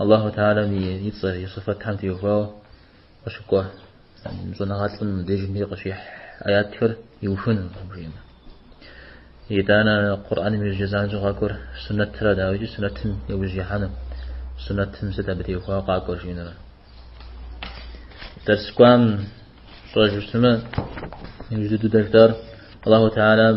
Аллаху Тхьалэм и цӏэ, и сыфэтхэм теухуауэ къыщыкӏуэ щӏэныгъэлӏым дежми къыщихь аятхэр иухыну жиӏэмэ. Итӏанэ Къурӏаным иужьы занщӏэу къакӏуэр сунэтрэ дауикӏи сунэтым яужь ихьэну, сунэтым сыт абы теухуауэ къакӏуэр жиӏэнурэ. Дэрс кӏуам фщӏэжу щытмэ, иужь дыдэждэр Аллаху Тхьалэм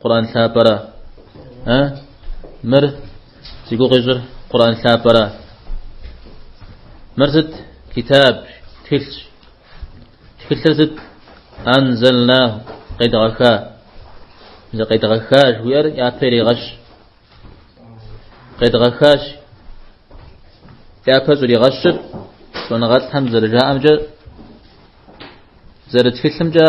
Къуран лъапӏэра? А? Мыр зи гугъу ищӏыр Къуран лъапӏэра? Мыр сыт? Китаб, тхылъщ. Тхылъыр сыт? Анзалнаху, къедгъэха. Езы къедгъэха жыхуиӏэр япэ иригъэщ. Къедгъэхащ. Япэ щӏригъэщыр щӏэныгъэлӏхэм зэрыжаӏэмкӏэ зэрытхылъымкӏэ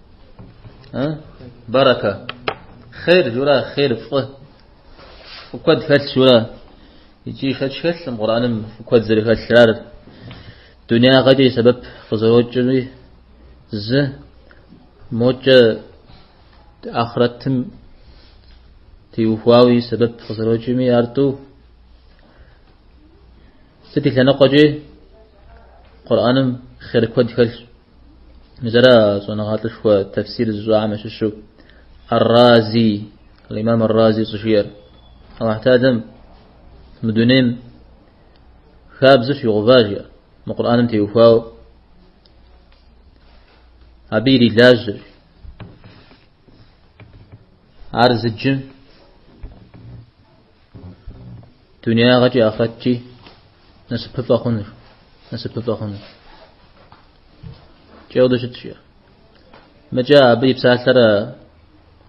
Э? Барака. Хейр жура, хейр фӏы. Фӏы куэд хэлъ жура. Иджы шэч хэлъым Къурӏаным фӏы куэд зэрыхэлърар. Дунягъэкӏэ и сэбэп къызэрокӏри зы мокӏэ ахърэтым теухуауи сэбэп къызэрокӏми ар тӏу Сыт и лъэныкъуэкӏи Къурӏэным хъер куэд хэлъщ. Мис ара щӏэныгъэлӏышхуэ тэфсир зыщӏахэм ящыщу Ар-Рази, Ал-Имам Ар-Рази щӏыжиӏэр. Аллахь Тхьэлэм мы дунейм хабзэ щигъэува жиӏэ. Мы Къурӏэным теухуауэ абы ирилажьэр. Ар зыджым Дунягъэкӏи ахърэткӏи насыпыфӏэ хъунур, насыпыфӏэ хъунур. Икӏи ауэду щытщ жиӏэ. Мыкӏэ абы и псалъэр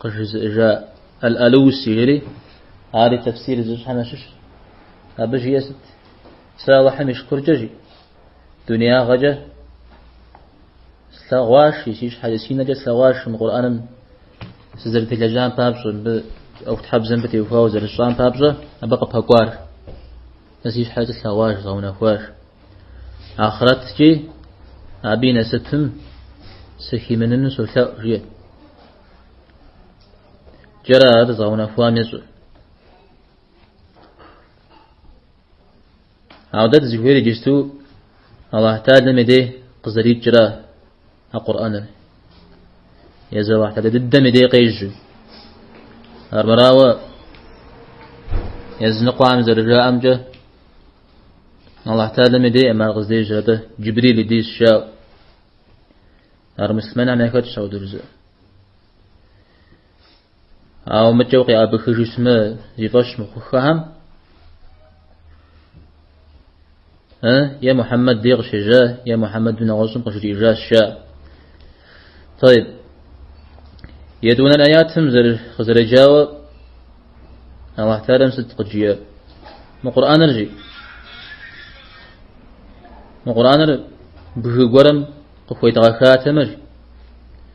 къыжызыӏэжа Ал-Алуси жери, ари тефсир зыщӏахэм ящыщщ. Абы жиӏэ сыт? Сэ Аллахьым и шыкуркӏэ жи. Дунеягъэкӏэ слъэгъуаш, жи, си щхьэкӏэ си нэкӏэ слъэгъуаш мы Къурӏэным сызэрытелэжьам папщӏэ, мыбы ӏуэхутхьэбзэ мыбы теухуауэ зэрысщӏам папщӏэ, абы къыпэкӏуар. Сэ си щхьэкӏэ слъэгъуаш, згъэунэхуаш. Ахърэткӏи абы и насыпым сыхимыныну солъэӏу, жи. Джэрэ ар зыгъэунэхуам ещӏэр. Ауэ дэ дызыхуейр иджысту Аллахь Тхьэлэм и дей къызэрикӏра а Къурӏэныр. Езы Аллахь Тхьэлэ дыдэм и дей къежьу. Армырауэ языныкъуэхэм зэрыжаӏэмкӏэ Аллахь Тхьэлэм и дей ар къыздежьэр Джибрил и дейщ жаӏэу. Ар муслъымэнхэм яхэтщ ауэду жызыӏэ. Ауэ мыкӏэу къяӏэбыхыжу исмэ зи фӏэщ мыхъуххэхэм э е Мухьэммэд дей къыщежьа е Мухьэммэд нэгъуэщӏым къыжриӏыжащ ща. Тӏэйиб. Етӏуанэ аятым дыкъызэреджауэ Аллахь Теалэм сыт къыджиӏэ? Мы Къурӏаныр жи. Мы Къурӏаныр бгы гуэрым къыхуедгъэхатэмэ жи.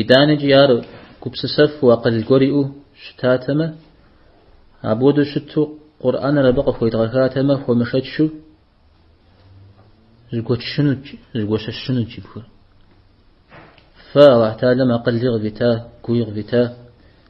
Итӏанэкӏи ар гупсысэфу акъыл гуэр иӏэу щытатэмэ, апхуэдэу щыту Къурӏэныр абы къыхуедгъэхатэмэ, хуэмышэчу зыгуэчынут, зыгуэщэщынут жи бгыр. Фэ Аллахь Теалэм акъыли къывита, гуи къывита,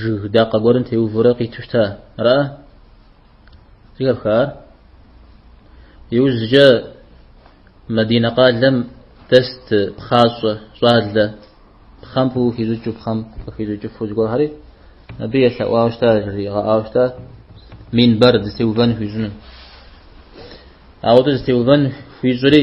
жыг дакъэ гуэрым теувурэ къиту щта ара зыхэпхар иужькӏэ Мадинэ къалэм дэст пхъащӏэ щӏалэ пхъэм къыхищӏыкӏыу пхъэм къыхищӏыкӏыфу зыгуэрхэри абы елъэӏуауэ щта жригъэӏауэ щта минбэр зытеувэн хуищӏыну ауэдэу зытеувэн хуищӏри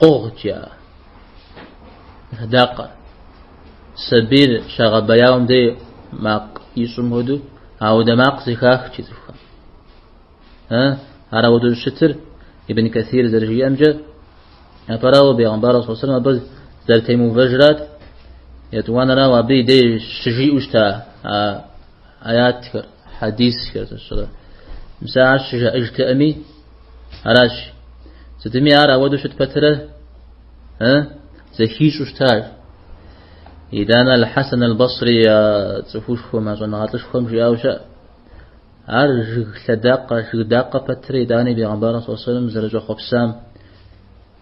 Къугъкӏэ. А дакъэр. Сабийр щагъэбэяуэм дей макъ ищӏым хуэдэу, ауэдэ макъ зэхахт жи цӏыхухэм. Э, ар ауэдэу щытыр Ибн Касир зэрыжиӏэмкӏэ, апэрауэ бегъымбар салэллаху алейхи уэсэллэм абы зэрытемыувэжрат, етӏуанэрауэ абы и дей щыжиӏэу щыта Аятхэр, хьэдисхэр зыщӏрэ. Мис ар щыжаӏэжтэкъыми, аращ. Сытми ар ауэдэу щыт пэтрэ? Э? Зэхищӏу щытар. Итӏанэ Аль-Хьэсэн Аль-Басри а цӏыхушхуэм, а щӏэныгъэлӏышхуэм жиӏауэ щыӏэ. Ар жыг лъэдакъэ, жыг дакъэ пэтри, итӏани Бегъымбар салэллаху алейхи уэсэллэм зэрыщӏэхъуэпсам,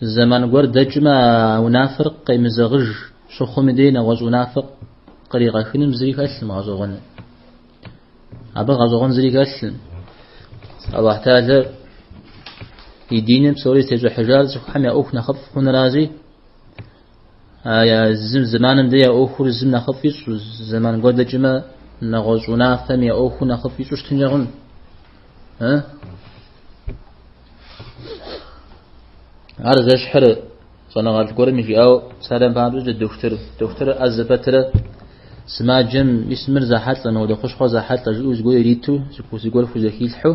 Зэман гуэр дэкӏмэ а унафэр къемызэгъыж щыхъум и дей нэгъуэщӏ унафэ къригъэхыным зыри хэлъым гъэщӏэгъуэну. Абы гъэщӏэгъуэн зыри хэлъым. Аллахь Теалэ и диныр псори зытещӏыхьыжар цӏыхухэм я ӏуэху нэхъыфӏ хъунуращи Зы зэманым дей я ӏуэхур зым нэхъыфӏ ищӏу, зэман гуэр дэкӏмэ нэгъуэщӏ унафэм я ӏуэхур нэхъыфӏ ищӏу щытынкӏэ хъун. Ар зэщхьыр щӏэныгъэлӏ гуэрым жиӏэу псалъэм папщӏэкӏэ дохутыр дохутыр ӏэзэ пэтрэ сымаджэм мис мыр зэхьэлӏэ, мыуэдэ хущхъуэр зэхьэлӏэ жиӏэу зыгуэр ириту, зыгуэр хузэхилъхьэу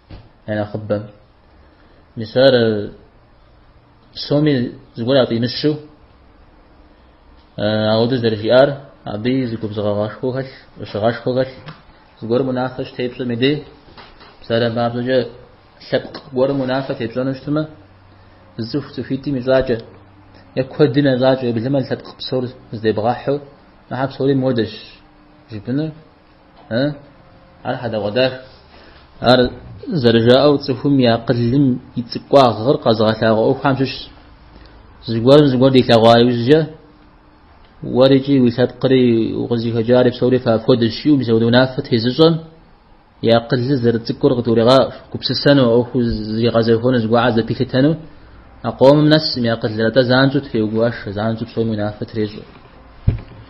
я нэхъыбэм. Мис ар псоми зыгуэр яфӏимыщу, ауэдэ зэрыжиӏар, абы зы губзыгъагъэшхуэ хэлъ, ӏущыгъэшхуэ хэлъ, зыгуэрым унафэ щытепщӏэм и дей, псалъэм папщӏэкӏэ лъэпкъ гуэрым унафэ тепщӏэну щытмэ, зы цӏыху цӏыхуитӏым ищӏакӏэ, е куэдым ящӏакӏэ еблэмэ лъэпкъ псор здебгъэхьу, ахьэ псори муэдэщ жыпӏэнур. Ар хьэдэгъуэдах. Ар зэрыжаӏэу цӏыхум и акъылым и цӏыкӏуагъыр къэзыгъэлъагъуэ ӏуэхухэм щыщ. Зыгуэрым зыгуэр дилъэгъуа иужькӏэ уэр икӏи уи лъэпкъри укъызыхэкӏари псори фапхуэдэщ жиӏэу мис апхуэдэ унафэ тезыщӏэм и акъылыр зэрыцӏыкӏур къыдгурегъаӏуэ, гупсысэну, ӏуэхуу зригъэзэхуэну, зыгуэхьэр зэпилъытэну а къомым нэсым и акъылыр, атӏэ занщӏэу трегуашэ, занщӏэу псоми унафэ трещӏэ.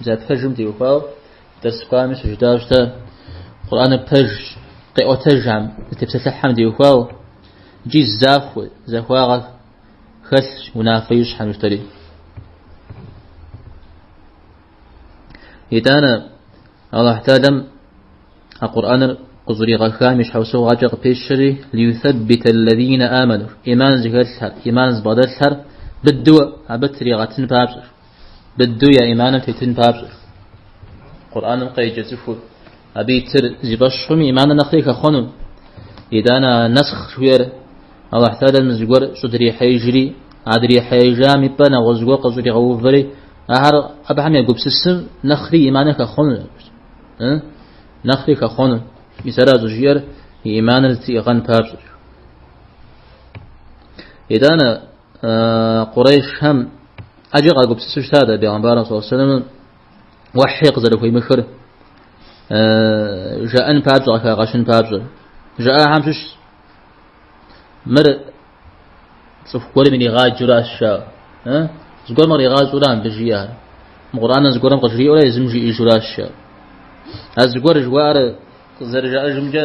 Бзэ пэжым теухуауэ дэрсхуами щыжытӏащ дэ. Къурӏаныр пэж къиӏуэтэжхэм, зытепсэлъыхьхэм теухуауэ. Икӏи захуэ, захуагъэ хэлъщ унафэ ищӏхэм ищтэри. Итӏанэ Аллахь Тэхьэлам а Къурӏаныр къыщӏригъэхам и щхьэусыгъуэкӏэ къыпещэри лиюсэббита аллазина аману, иман зыхэлъхэр, иман зыбгъэдэлъхэр быдэу абы тригъэтын папщӏэ. Быдэу я иманым тетын папщӏэ, Къурӏаным къеджэ цӏыхур, абы итыр зи фӏэщ хъум и иманыр нэхъри хэхъуэну. Итӏанэ а нэсхъ жиӏэр Аллахь Тэхьэлам зыгуэр щӏыдрихьеижри, а дрихьеижам и пӏэ нэгъуэщӏ гуэр къыщӏригъэувэри, ахэр абыхэм егупсысым нэхъри иманыр хэхъуэну, нэхъри хэхъуэну. Мис ара щӏыжиӏэр и иманыр зытриӏыгъэн папщӏэщ. Итӏанэ Къурейшхэм ӏэджэ къагупсысу щыта дэ Бегъэмбарым саллаллаху алейхи вассалам уэхьи къызэрыхуимыхыр жаӏэн папщӏэ къыхагъэщын папщӏэ. Жаӏахэм щыщ мыр цӏыху гуэрым иригъаджуращ жа. Зыгуэрым къригъащӏурэ абы жиӏэр. Мы Къурӏаныр зыгуэрым къыжриӏэурэ езым жиӏэжуращ жа. А зыгуэр жыхуаӏэр зэрыжаӏэжымкӏэ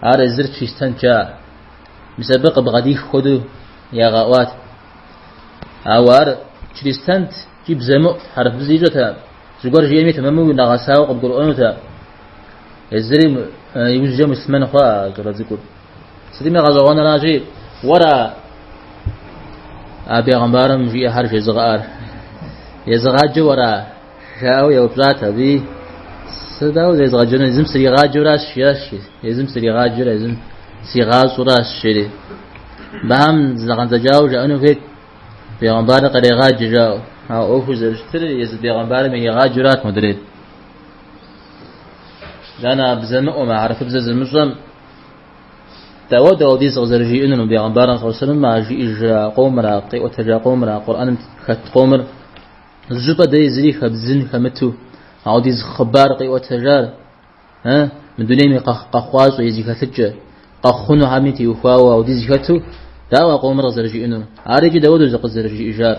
Ар езыр чристэнт жа, мис абы къыбгъэдих хуэдэу ягъэӏуат. Ауэ ар чристэнт икӏи бзэмыӏу хьэрыпыбзэ ищӏэта, зыгуэр жиӏэми тэмэму нэгъэсауэ къыбгурыӏуэнута. Езыри иужькӏэ муслъмэн хъуа щӏалэ цӏыкӏур. Сытми гъэщӏэгъуэнращи, уэра а бегъымбарым жиӏэхэр жезыгъэӏэр? Езыгъаджэ уэра? Жаӏэу еупщӏат абыи, Сэ дауэ зэрезгъэджэнур? Езым сригъаджэуращ, жиӏащ. Езым сригъаджэр, езым сигъащӏуращ, жери. Абыхэм зэгъэндзэкӏауэ жаӏэну хуейт, бегъымбарыр кърегъаджэ жаӏэу. Ауэ ӏуэхур зэрыщытыр езы бегъымбарым иригъаджэрат модрейр. Дэнэ бзэмыӏуэм, хьэрыфыбзэ зымыщӏэм, дауэ аудиз къызэрыжиӏэнур мы бегъымбарым, сэлаллаху алейхи уэсэллэм, а жиӏэжа къомра, къиӏуэтэжа къомра, Къурӏэным хэт къомыр, Зы щӏыпӏэ дей зыри хэбдзын хэмыту, аудиз хъыбар къиӏуэтэжар, э, мы дунейм и къэхъ къэхъуащӏэ е зи хэлъыкӏэ, къэхъунухэми теухуауэ аудиз хэту, дауэ а къомыр къызэрыжиӏэну? Ар иджы дауэ аудиз къызэрыжиӏэжар?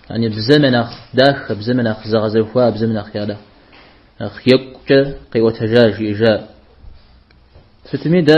Яни бзэм я нэхъ дахэ, бзэм я нэхъ зэгъэзэхуа, бзэм нэхъ я нэхъ нэхъ екӏукӏэ къиӏуэтэжар, жиӏэжар? Сытми дэ